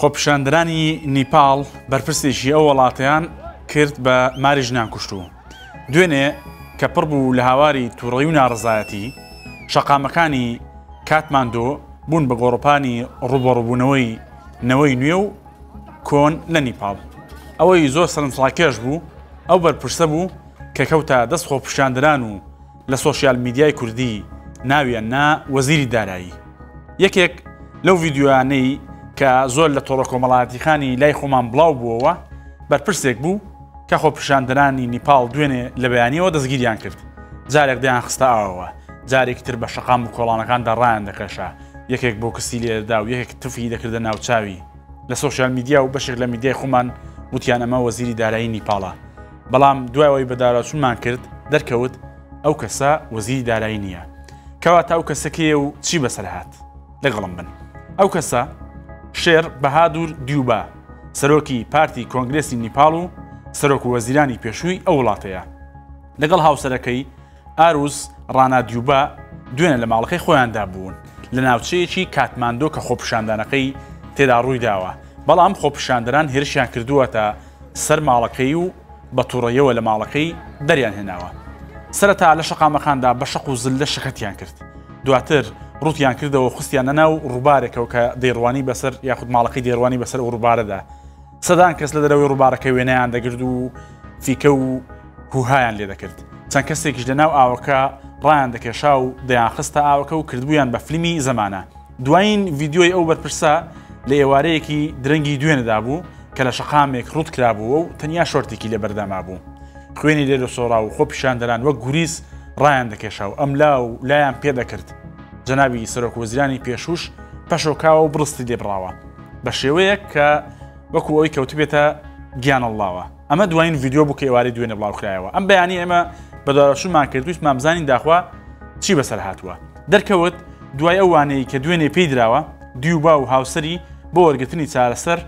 خۆپیشاندەرانی نیپاڵ بەرپرسێکی ئەو وەڵاتەیان کرد بە ماری ژنان کوشتوو. دوێنێ کە پڕ بوو لە هاواری تووڕەیی و ناڕەزایەتی، شەقامەکانی کاتماندۆ بوون بە گۆڕەپانی ڕووبەڕووبوونەوەی نەوەی نوێ و کۆن لە نیپاڵ. ئەوەی زۆر سەرنجڕاکێش بوو ئەو بەرپرسە بوو کە کەوتە دەست خۆپیشاندەران و لە سۆشیال میدیای کوردی ناویان نا وەزیری دارایی. یەکێک لەو ڤیدیۆیانەی کە زۆر لە تۆڕە کۆمەڵایەتیخانی لای خۆمان بڵاو بووەوە بەرپرسێک بوو کە خۆپیشاندەرانی نیپاڵ دوێنێ لە بەیانیەوە دەستگیریان کرد جارێک دەیان خستە ئاوەوە جارێکی تر بە شەقام و کۆڵانەکاندا ڕایان دەکەشا یەکێک بۆ کسی لێدا و یەکێک تفی دەکردە ناوچاوی لە سۆشیال میدیا و بەشێک لە میدیای خۆمان وتیان ئەمە وەزیری دارایی نیپاڵە بەڵام دوای ئەوەی بەداراوچونمان کرد دەرکەوت ئەو کەسە وەزیری دارایی نییە کەواتە ئەو کەسە کێیە و چی بەسەر هات لەگەڵم بن ئەو کەسە شێر بەهادور دیوبا سەرۆکی پارتی کۆنگرسی نیپال و سەرۆک وەزیرانی پێشووی ئەو وڵاتەیە لەگەڵ هاوسەرەکەی ئاروز ڕانادیوبا دوێنێ لە ماڵەکەی خۆیاندا بوون لە ناوچەیەکی کاتماندۆ کە خۆپیشاندانەکەی تێدا ڕوویداوە، بەڵام خۆپیشاندەران هێرشیان کردووەتە سەر ماڵەکەی و بە توڕەیەوە لە ماڵەکەی دەریانهێناوە. سەرەتا لە شەقامەکاندا بە شەق و زللە شەکەتیان کرد، دواتر ڕووتیان کردەوە و خستیانە ناو ڕووبارێکەوە کە دەیڕوانی بەسەر یاخود ماڵەکەی دەیڕوانی بەسەر ئەو ڕووبارەدا. سەدان کەس لە دەرەوەی ڕووبارەکە وێنەیان دەگرد و فیکە و هوهایان لێ دەکرد چەند کەسێکیش لە ناو ئاوەکە ڕایان دەکێشا و دەیان خستە ئاوەکە و کردبوویان بە فلیمی زەمانە دوایین ڤیددیۆی ئەو بەرپرسە لە ئێوارەیەکی درەنگی دوێنەدا بوو کە لە شەقامێک ڕوت کرابووە و تەنیا شۆرتێکی لە بەردەما بوو خوێنی لێ لە سۆرا و خۆ پیشاندەران وەک گوریس ڕایان دەکێشا و ئەم لا و لایان پێدەکرد جەنابی سەرۆک وەزیرانی پێشوش پەشۆکاوە و بڕستی لێبراوە بە شێوەیەک کە وەکو ئەوی کەوتبێتە گیان اللهوە ئەمە دوایین ڤیددیو بوو کە ئێواری دوێنێ بڵاوکرایەوە ئەم بەیانی ئێمە بەداواشمان کردویست مامزانین داخوا چی بەسەر هاتووە دەرکەوت دوای ئەوانەی کە دوێنێ پێی درراوە دیوبا و هاوسری بۆ وەرگتنی چارەسەر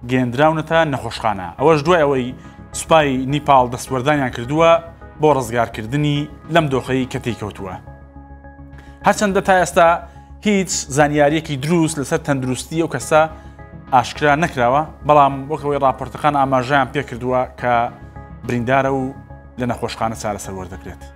گەێندراونەتە نەخۆشخانە ئەوەش دوای ئەوەی سوپای نیپال دەستوەردانیان کردووە بۆ ڕزگارکردنی لەم دۆخەی کە تێکەوتووە. هەرچەندە تا ئێستا هیچ زانیاریەکی دروست لەسەر تەندروستی ئەو کەسە ئاشکرا نەکراوە بەڵام وەکەوەی راپۆرتەکان ئاماژیان پێکردووە کە بریندارە و لە نەخۆشخانە چارەسەر وەردەگرێت.